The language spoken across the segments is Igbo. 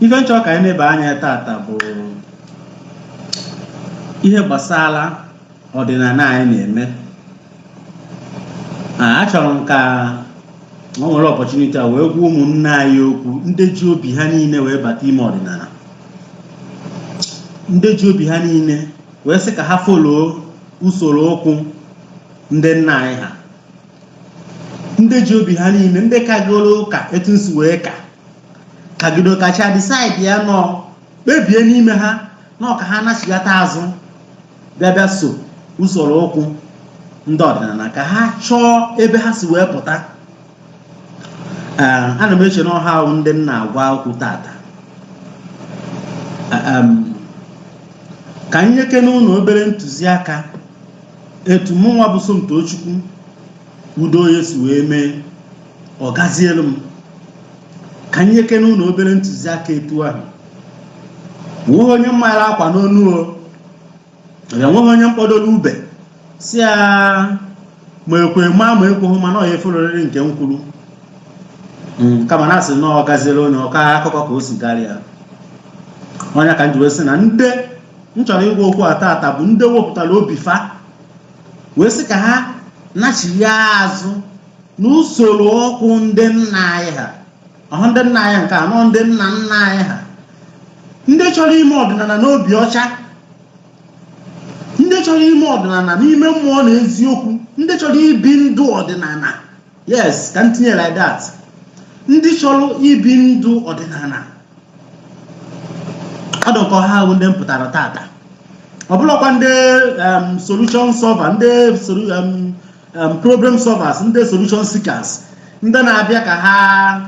ife m chọ ka anyị neba anya tata bụ ihe gbasara ọdịnala anyị na-eme achọrọ m ka m were opportunity a wee gwa ụmụnne anyị okwu ndị ji obi ha niile wee bata ime ọdịnala ndị ji obi ha niile wee sị ka ha folo usoro ụkwụ ndị nna anyị ha ndị ji obi ha niile ndị kagoro ụka etu m si wee ka kagido kacha decide ya nọ kpebie n'ime ha na ọ ka ha nachigata azụ bịa bịa so usoro ụkwụ ndị ọdịnala ka ha chọọ ebe ha si wee pụta Ee, ana m eche na ọ ha wụ ndị m na-agwa okwu tata Ee, em, ka m nyekene unu obere ntụziaka etu mụnwa bụ Somtochukwu Udoye si wee mee ọ gazielu m ka m nyekene unu obere ntụziaka etu ahụ o nweghị onye m mara akwa n'onu o ya nweghị onye m kpọdoro ube sị ya ma ekwe ma ma ekweghị ma na ọ ya efolorịrị nke m kwuru Mm, kama na a sị na ọ gaziere onye ọ kaa akụkọ ka o si gara ya ọ nya ka m ji wee sị na ndị m chọrọ ịgwa okwu a tata bụ ndị wepụtara obi fa wee sị ka ha nachigha azụ n'usoro ọkụ ndị nna anyị ha ọhụ ndị nna anyị ha nke anọ ndị nna nna anyị ha ndị chọrọ ime ọdịnala n'obi ọcha ndị chọrọ ime ọdịnala n'ime mmụọ na eziokwu ndị chọrọ ibi ndụ ọdịnala yes ka m tinye like that ndị chọrọ ibi ndụ ọdịnala ọdụkọ ha wụ ndị m pụtara tata ọ bụlọkwa ndị um, solution solver ndị um, um, problem solvers ndị solution seekers ndị na-abịa ka ha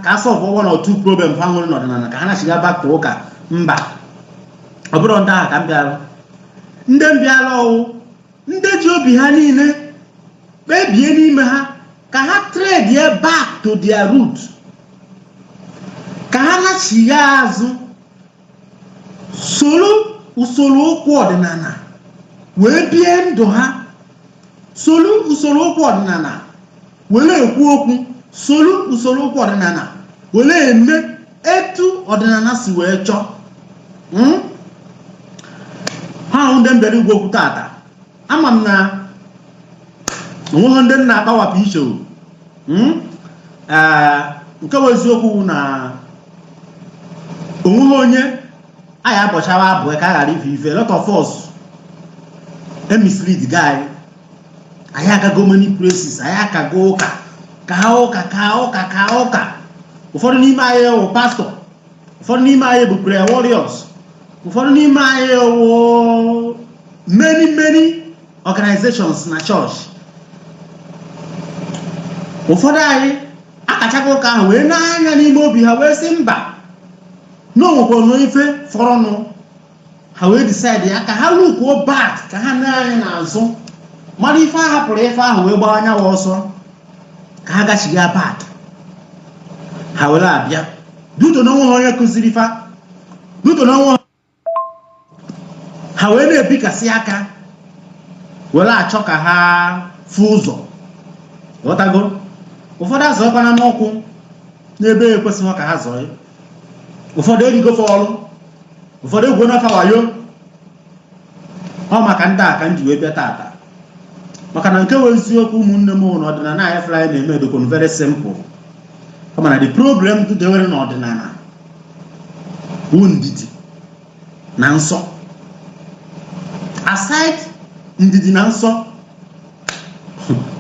ka solve one or two problem ha nwere n'ọdịnala ka ha nachiga back to ụka mba ọ bụrọ ndị ahụ ka m bịara ndị m bịara ọ wụ ndị ji obi ha niile kpebie n'ime ha ka ha trade ya back to their root ka ha nachigha azụ soro usoro ụkwụ ọdịnala wee bie ndụ ha soro usoro ụkwụ ọdịnala were ekwu okwu soro usoro ụkwụ ọdịnala were eme etu ọdịnala si wee chọọ hmm? ha wụ ndị m bịara ịgwa okwu tata ama m na o nweghị ndị m na-akpawapụ iche hmm? nke bụ eziokwu na o nweghị onye a ya-abọchawa abọ ka a ghara ịfụ ife lot of us e misleadgo anyị anyị agago many places anyị akago ụka ka ụka ka ụka ka ụka ụfọdụ n'ime anyị wụ pastor ụfọdụ n'ime anyị bụ prayer warriors ụfọdụ n'ime anyị wụ many many organizations na church ụfọdụ anyị akachago ụka ahụ wee nee anya n'ime obi ha wee sị mba na o nwekwara ife fọrọnụ ha wee decide ya ka ha lookuo back ka ha nee anya n'azụ mara ife a hapụrụ ife ahụ wee gbaa anyanwụ ọsọ ka ha gachiga back ha were abịa due to na o nweha onye kụziri fa due to na onwe ha wee na-ebikasị aka were achọ ka ha fụ ụzọ ghọtago ụfọdụ azọkwana n'ụkwụ n'ebe ekwesịghị ka ha zọọ ụfọdụ erigo ife ọrụ ụfọdụ egwu n'afa wayo ọ maka ndị a ka m ji wee bịa tata maka na nke wụ eziokwu ụmụnne m na ọdịnala a ị fụlụ a na-eme dụkwanụ very simple kama na the problem dewere na ọdịnala bụ ndidi na nsọ aside ndidi na nsọ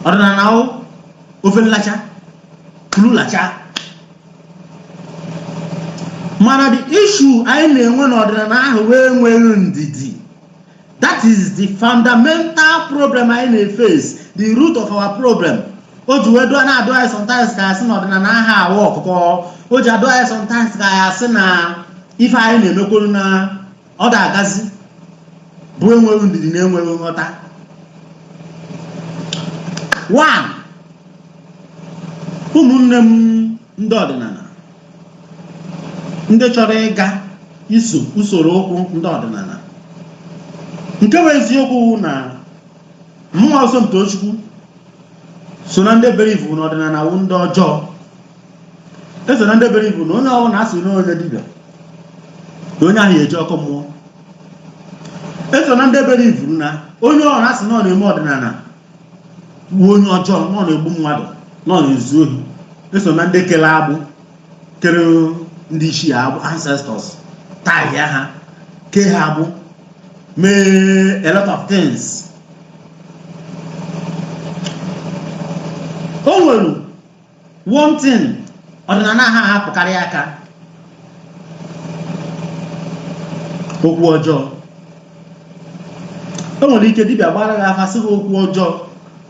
ọdịnala wụ ofe nlacha lulacha mana the issue anyị na-enwe n'ọdịnala ahụ wụ enweghị ndidi that is the fundamental problem anyị na-eface the root of our problem o ji wee dụọ na-adụ anyị sometimes ka a sị na ọdịnala aha awa ọkụkọ o ji adụ anyị sometimes ka a ya-asị na ife anyị na-emekwuru na ọ da-agazi bụ enweghị ndidi na enweghị nghọta one ụmụnne m ndị ọdịnala ndị chọrọ ịga iso usoro ụkwụ ndị ọdịnala nke bụ eziokwu wụ na mụwa wụ Somtochukwu so na ndị believe na ọdịnala wụ ndị ọjọọ eso m na ndị believuru na onye ọbụla asị na onye dibịa na onye ahụ ya-eje ọkụ mmụọ eso m na ndị believuru na onye ọbụla asị na ọ na-eme ọdịnala bụ onye ọjọọ na ọ na-egbu mmadụ na ọ na-ezu ohi eso m na ndị kere agbụ kere ndị ichie agbụ ancestors taịa ha kee ha agbụ mee a lot of things o nwere one thing ọdịnala ha ahapụkarị aka okwu ọjọọ o nwere ike dibịa gbara gị afa sị gị okwu ọjọọ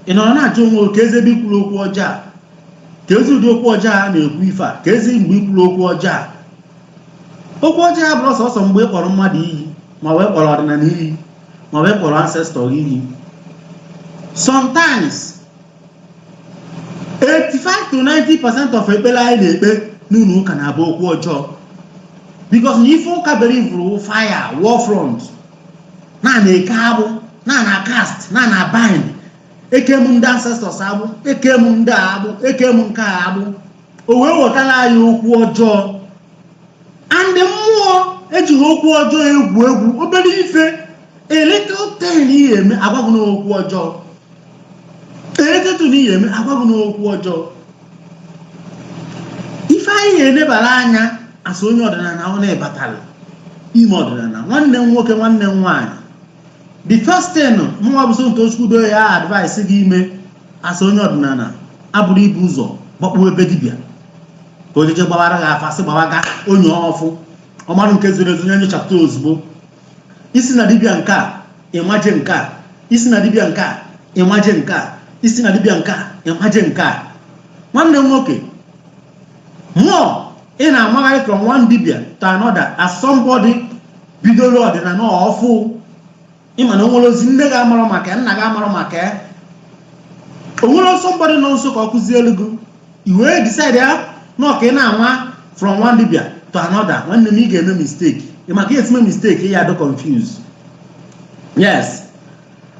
ị nọrọ na-ajụ onwe gị keezi ebe i kwuru okwu ọjọọ a keezi ụdị okwu ọjọọ a na-ekwu ife a keezi mgbe i kwuru okwu ọjọọ a okwu ọjọọ abụrọ sọsọ mgbe ị kpọrọ mmadụ iyi ma ọ wụ ị kpọrọ ọdịnala iyi ma ọ wụ ị kpọrọ ancestor iyi sometimes 85 to 90 percent of ekpere anyị na-ekpe n'ụlọ ụka na-abụ okwu ọjọọ because na ife ụka bere i vuru fire war front na na-eke agbụ na na cast na na bind ekee m ndị ancestors agbụ ekee m ndị a agbụ ekee m nke a agbụ o wee wetara anyị okwu ọjọọ and mmụọ ejirọ okwu ọjọọ egwu egwu obere ife a little thing ị ga-eme a gwa gị na okwu ọjọọ a little thing ị ya-eme a gwa gị na okwu ọjọọ ife anyị ya-enebara anya as onye ọdịnala onye batara ime ọdịnala nwanne m nwoke nwanne m nwaanyị the first thing mụnwa bụ Somto Chukwudo ya advise gị ime as onye ọdịnala abụrọ ibu ụzọ gbakpuo be dibịa ka o jee gbaara gị afa sị gbaara gị onye ọfụ ọmarụ nke zoro ezo nye nyochapụta ozugbo i si na dibịa nke a ị maje nke a i si na dibịa nke a ị maje nke a i si na dibịa nke a ị maje nke a nwanne m nwoke mụọ ị na-amagharị from one dibịa to another as somebody bidoro ọdịnala ọfụụ ị ma na o nwerọzi nne gị amarọ maka ya nna gị amarọ maka ya o nwerọ somebody nọ nso ka o kuzielu gị i wee decide ya na ọ ka ị na-anwa from one dibia to another nwanne m ị ga-eme mistake ị ma ka ị ya-esi me mistake ị ya-adị confuse yes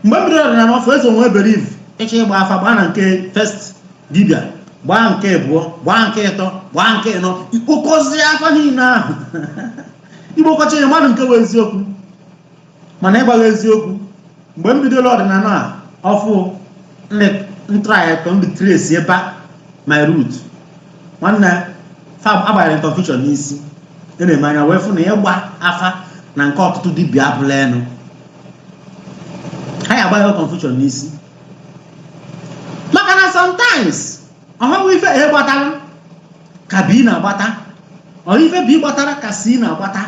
mgbe m bidoro ọdịnala ọfụụ eso m wee believe ị chọọ ịgba afa gbaa na nke first dibia gbaa nke abụọ gbaa nke ịtọ gbaa nke ịnọ i kpokọzie afa niile ahụ ị gbakọcha ya mara nke bụ eziokwu mana ịgwa gị eziokwu mgbe m bidoro ọdịnala a ọfụụ ndị ntraya ka m dị trace back my root nwanne afa gbanyere m confusion n'isi e nee m anya wee fụ na ịgba afa na nke ọtụtụ dibịa abụla enu ha ya-agba gị confusion n'isi maka na sometimes ọ bụrọ ife A gbatara ka B na-agbata ọ bụrọ ife B gbatara ka C na-agbata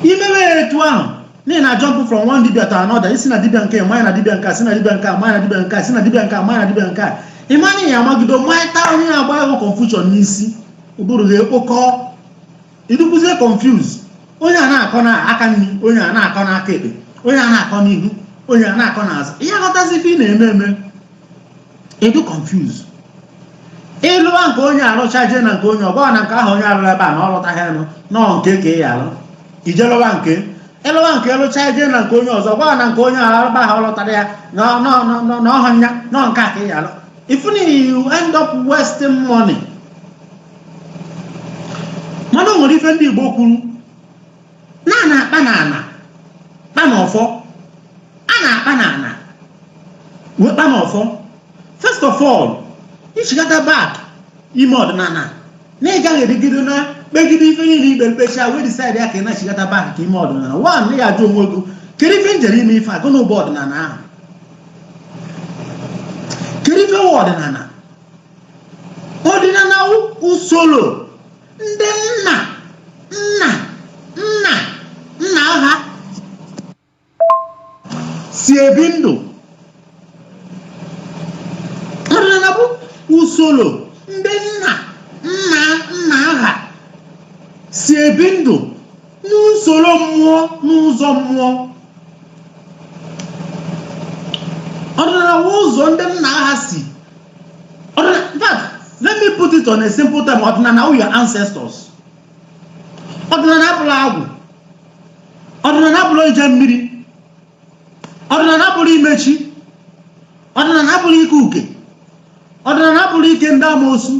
i mebe ya etu ahụ na ị na jump from one dibia to another i si na dibia nke manya na dibia nke a si na dibia nke a manya na dibia nke a si na dibia nke a manya na dibia nke a ị ma na ị ya-amagido mmanya taa onye na-agba gị confusion n'isi ụbụrụ gị ekpokọ ị dịkwuzie confuse onye a na-akọ na aka nri onye a na-akọ na aka ekpe onye a na-akọ n'ihu onye a na-akọ n'azụ ị ha aghọtazi ife ị na-eme eme ị dị confuse ị lụwa nke onye a lụcha jee na nke onye ọ gwa gị na nke ahụ onye a lụrụ ebe a na ọ lụtaghị ya na ọ nke a ka ị ya-alụ i jee lụwa nke ị lụwa nke ị lụcha jee na nke onye ọzọ ọ gwa gị na nke onye a lụrụ ebe ahụ ọ lụtarọ ya na ọ- na ọ- na ọ- na ọ họ ya na ọ nke a ka ị ya-alụ ị fụ na you end up wasting money mana o nwere ife ndị Igbo kwuru na a na-akpa n'ala kpa n'ọfọ a na-akpa n'ala wee kpa n'ọfọ first of all i chigata back ime ọdịnala na ị gaghị erigide na kpegide ife niile ikpe mkpecha wee decide ya ka ị na-achigata back ka i mee ọdịnala wa na ị ya-ajụgodu kedu ife m jere ime ife a gịnị bụ ọdịnala ahụ kedu ife wụ ọdịnala ọdịnala wụ usoro ndị nna nna nna nna ha si ebi ndụ ọdịnala bụ usoro ndị nna nna nna ha si ebi ndụ n'usoro mmụọ n'ụzọ mmụọ ọdịnala bụ ụzọ ndị nna ha si let me put it on a simple term ọdịnala wụ your ancestors ọdịnala abụla agwụ ọdịnala abụla ije mmiri ọdịnala abụla ime chi ọdịnala abụla ike uke ọdịnala abụla ike ndị amoosu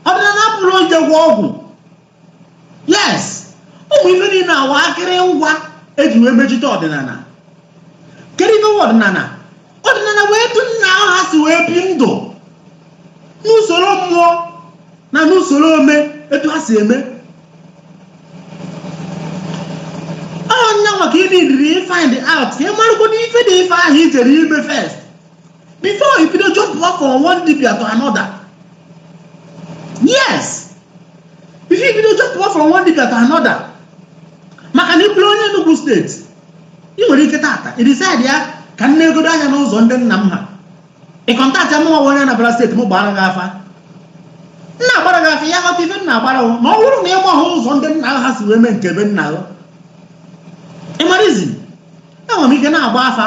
ọdịnala abụla ije gwọ ọgwụ yes ụmụ ife niile a wụ akịrị ngwa e ji wee mejite ọdịnala kedu ife wụ ọdịnala ọdịnala wụ etu nna gị ha si wee bi ndụ n'usoro mmụọ na n'usoro ome etu ha si eme ọ nya maka ị na-ediri find out ka ị marụgodo ife dị ife ahụ i jere ime first before you could jump off from one dibia to another yes before you could jump off from one dibia to another maka na ị bụrụ onye Enugu steeti ị nwere ike tata ị decide ya ka m negodo anya n'ụzọ ndị nna m ha ị contact mụwa onye Anambra steeti m gbara gị afa m na-agbara gị afa ị ya-aghọta ife m na-agbara ma ọ bụrụ na ị gba ha ụzọ ndị nna ha si wee mee nke be nna gị ị marazi enwere m ike na-agba afa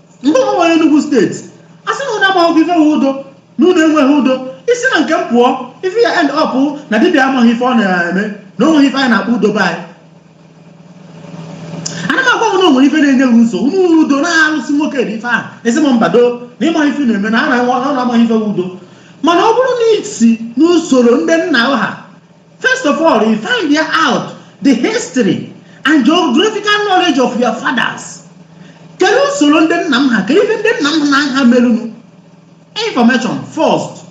ndị ọma nwere Enugu steeti a sị na unu amaghị ife wụ udo na unu enweghị udo i si na nke m pụọ ife ya end up na dibịa amaghị ife ọ na-eme na o nweghị ife anyị na-akpọ udo be anyị a na m agwa m na o nwere ife na-enye gị nsogbu unu nwere udo na alụsị nwoke dị ife ahụ ị sị m mba na ị maghị ife na-eme na anyị amaghị ife wụ udo mana ọ bụrụ na i si n'usoro ndị nna ha First of all, ị finda out the history and geographical knowledge of your fathers. Kelee usoro ndị nna m ha kedu ife ndị nna m ha ha merunu? Information first.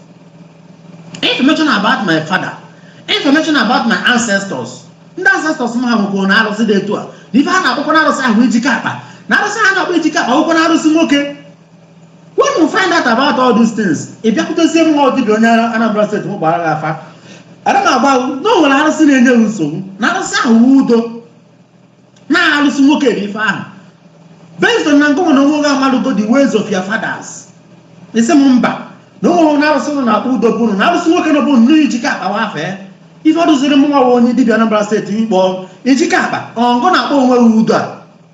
Information about my father. Information about my ancestors. Ndị ancestors m ha nwekwuru na arụsị dị etu a. Na ife ha na-akpọkwa na arụsị ahụ ijike akpa. Na arụsị ha na-akpọ ijike akpa wụkwa na arụsị nwoke. when you find out about all these things ị bịakwutezie mụwa dibịa onye Anambra steeti m gbaara gị afa ana m agba ahụ na o nwere arụsị na-enye m nsogbu na arụsị ahụ wu udo na-arụsị nwoke dị ife ahụ based on na ngịnwa na onwe gị amalụgo the ways of your fathers ị sị m mba na onweghị na arụsị a na-akpọ udo bụrụ na arụsị nwoke na ọ bụ nnọọ ijike akpa wafe ife ọ dụziri mụnwa wa onye dibịa Anambra steeti ikpọ ijike akpa ọngụ na-akpọ onwe gị udo a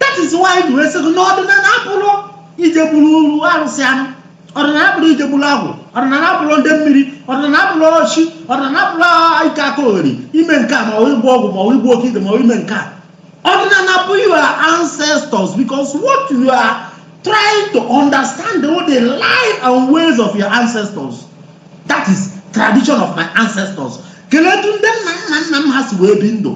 that is why m ji wee sị gị na ọdịnala abụrụ ije gbuuru arụsị anụ ọdịnala abụrụ ije gbuuru agwụ ọdịnala abụrụ ndị mmiri ọdịnala abụrụ ọchị ọdịnala abụrụ ike aka ogheri ime nke a ma ọ ịgba ọgwụ ma ọ ịgba oke ite ma ọ ime nke a ọdịnala bụ your ancestors because what you are trying to understand wụ the life and ways of your ancestors that is tradition of my ancestors kelee etu ndị nna nna nna m ha si wee bi ndụ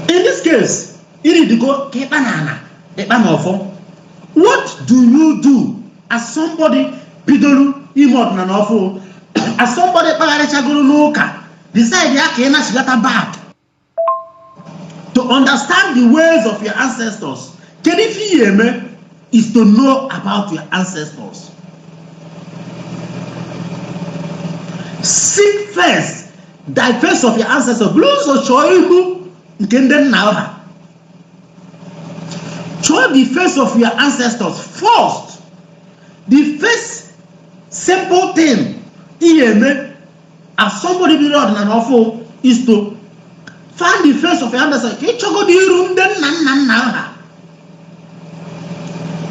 in this case iridigo ka ịkpa na ala ịkpa na ọfọ what do you do as somebody bidoro ime ọdịnala ọfụụ as somebody kpagharịchagoro n'ụka decidea ka ị nachighata back to understand the ways of your ancestors kedu ife ị ya-eme is to know about your ancestors seek first the face of your ancestors bụrụ ụzọ chọọ iru nke ndị nna ha chọọ the face of your ancestors first the first simple thing ị ga-eme as somebody bidoro ọdịnala ọfụụ is to find the face of your ancestors ka ị chọgodo iru ndị nna nna nna ha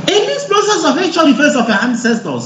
in this process of ịchọ the face of your ancestors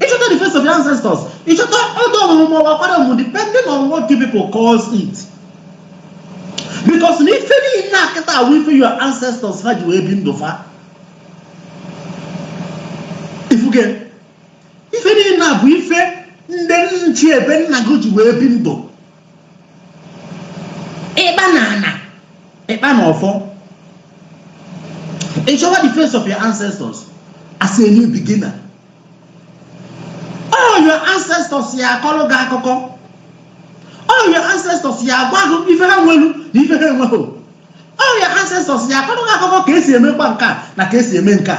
ị chọta the face of your ancestors ị chọta ọda ọmụmụ ma ọ bụ akwalị ọmụmụ depending on what you people calls it because na ife niile a kịta a wụ ife your ancestors ha ji wee bi ndụ fa ị fugo ife niile a bụ ife ndị ichie be nna gị ji wee bi ndụ ịkpa na ana ịkpa na ọfọ ị chọwa the face of your ancestors as a new beginner all your ancestors ya akọrọ gị akụkọ all your ancestors ya agwa gị ife ha nwelu na ife ha enwerọ all your ancestors ya akọrọ gị akụkọ ka e si emekwa nke a na ka e si eme nke a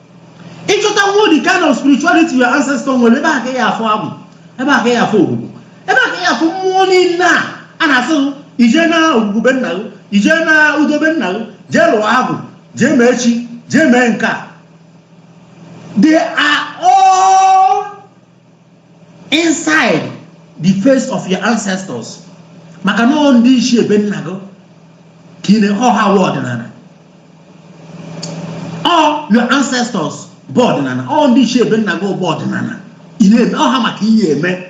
ịchọtanwu the kind of spirituality your ancestor nwere ebe a ka ị ya-afụ agwụ ebe a ka ị ya-afụ ogwugwu ebe a ka ị ya-afụ mmụọ niile a a na-asị gị ije na ogwugwu be nna gị ije na udo be nna gị jee lụọ agwụ jee mee chi jee mee nke a they are all inside the face of your ancestors maka na ọ ndị isi be nna gị ka ị na- ọ ha wụ ọdịnala ọ your ancestors bụ ọdịnala ọ ndị isi be nna gị bụ ọdịnala ị na-eme ọ ha maka ihe eme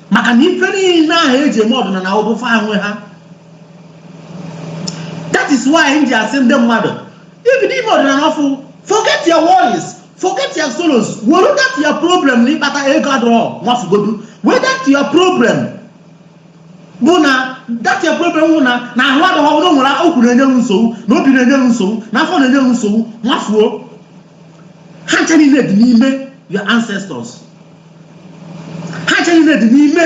maka na ife niile ahụ e ji eme ọdịnala ọ bụ fa nwe ha that is why m ji asị ndị mmadụ i bido ime ọdịnala ọfụ forget your worries forget your sorrows were that your problem na ịkpata ego adọrọ nwafugodu were that your problem bụ na that your problem bụ na na ahụ adọghọ na o nwere okwu na-enye m nsogbu na obi na-enye m nsogbu na afọ na-enye m nsogbu nwafuo ha ncha niile dị n'ime your ancestors ha ncha niile dị n'ime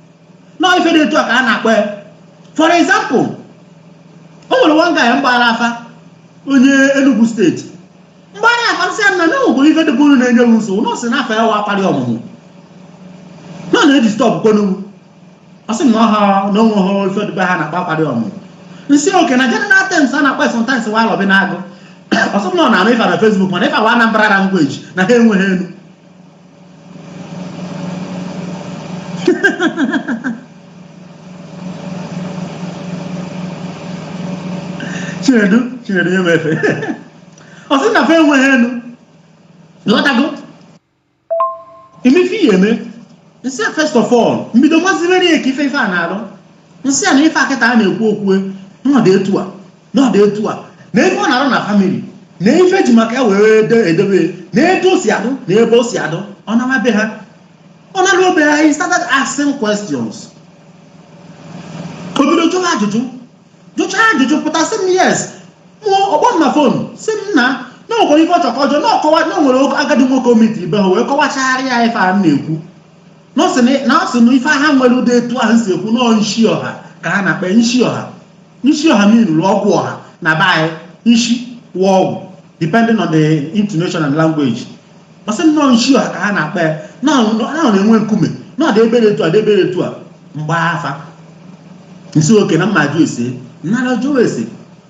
na ife dị etu a ka a na-akpọ ya for example o nwere one guy m gbara afa onye Enugu steeti m gbara afa sị na na bụ ife dị bụrụ na-enye m nsogbu nọọsị na afọ ya wa akwalị ọmụmụ nọ na-edisturb unu ọ sị na ọha na o nweghị ife dị be ha a na-akpọ akwalị ọmụmụ m sị okay na general terms a na-akpọ sometimes wa arọbinagụ ọ sị m na ọ na-anụ ife na Facebook mana ife a wụ Anambra language na ha enweghị enu chinedu chinedu nye m efe ọ sị na fa enweghị enu lọtago imefe ihe eme m sị ya first of all m bido mazibere ya ka ife ife a na-arụ m sị ya na ife a kịta a na-ekwu okwu ọ dị etu a na ọ dị etu a na ife ọ na-arụ na famili na ife e ji maka ya were ede- edebe na etu o si adụ na ebe o si adụ ọ naa be ha ọ naa be ha he started asking questions o bido jụọ ajụjụ jụcha ajụjụ pụta sị m yes mụọ ọ kpọọ m na fon sị m na na o nwere ife ọ chọkọ ọjọọ na ọkọwa na o nwere agadi nwoke o meetiri be ha wee kọwachaara ya ife a m na-ekwu na ọ sị na- na ọ sị na ife ha nwere dị etu ahụ si ekwu na ọ nshi ọha ka ha na-akpa ya, nshi ọha nshi ọha meanụrụ ọgwụ ọha na be anyị nshi wụ ọgwụ depending on the intonation and language ọ sị na ọ nshi ọha ka ha na-akpọ ya na ọ na ọ na-enwe nkume na ọ dị ebere etu a dị ebere etu a m gbaa afa m sị okay na mma jụ ese nnara jụọ ese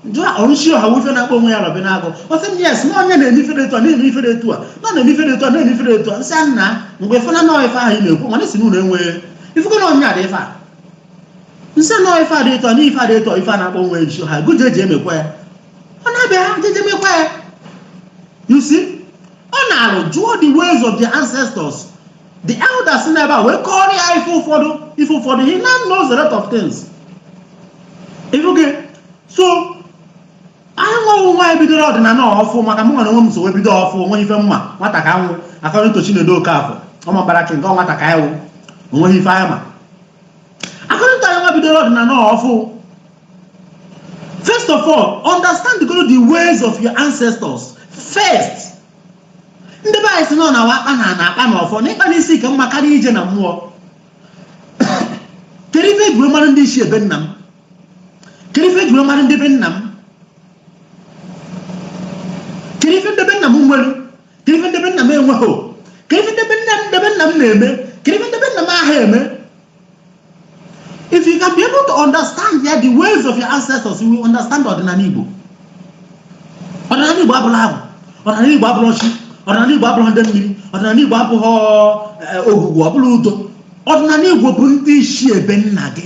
njụ a ọrụchi ọha wụ ife na-akpọ onwe ya rọbị na-agụ ọ sị m yes na onye na-eme ifere etu a na-eme ifere etu a na na-eme ifere etu a na-eme ifere etu a nsị a nna mgbe fana nọọ ife ahụ ị na-ekwu mana isi na ụlọ enweghị ifekọ na onye adị ife a nsị a nọọ ife adị etu a na ife adị etu a ife a na-akpọ onwe ya nchi ọha gụje eji emekwa ya ọ na-abịa ha jeje mekwa ya you see ọ na-arụ jụọ the ways of their ancestors the elders si n'ebe a wee kọrọ ya ife ụfọdụ ife ụfọdụ he now knows a lot of things ị fụgo so anyị nweghị nwa anyị bidoro ọdịnala ọfụ maka m nwere onwe m so wee bido ọfụ onwe ife mma nwata ka anwụ akọrọ to Chinedu Okafọ ọma mbara nke nke nwata ka anyị wụ onweghị ife anyị ma akọrịta anyị nwa bidoro ọdịnala ọfụ first of all understand the, the ways of your ancestors first ndị be anyị sị nọ na akpa na na akpa na ọfọ na ịkpa na isi ka mma karịa ije na mmụọ kedu ife ejiri mara ndị isi ebe nna m kedu ife ejiri mara ndị be nna m kedu ife nde be nna m nwere kedu ife nde be nna m enweghị kedu ife nde be nna m na-eme kedu ife nde be nna m aha eme if you can be able to understand ya the ways of your ancestors you will understand ọdịnala Igbo ọdịnala Igbo abụla Agwụ ọdịnala Igbo abụla alụsị ọdịnala Igbo abụla ndị mmiri ọdịnala Igbo abụghị eh, Ogwugwu ọ bụla Udo ọdịnala Igbo bụ ndị isi ebe nna gị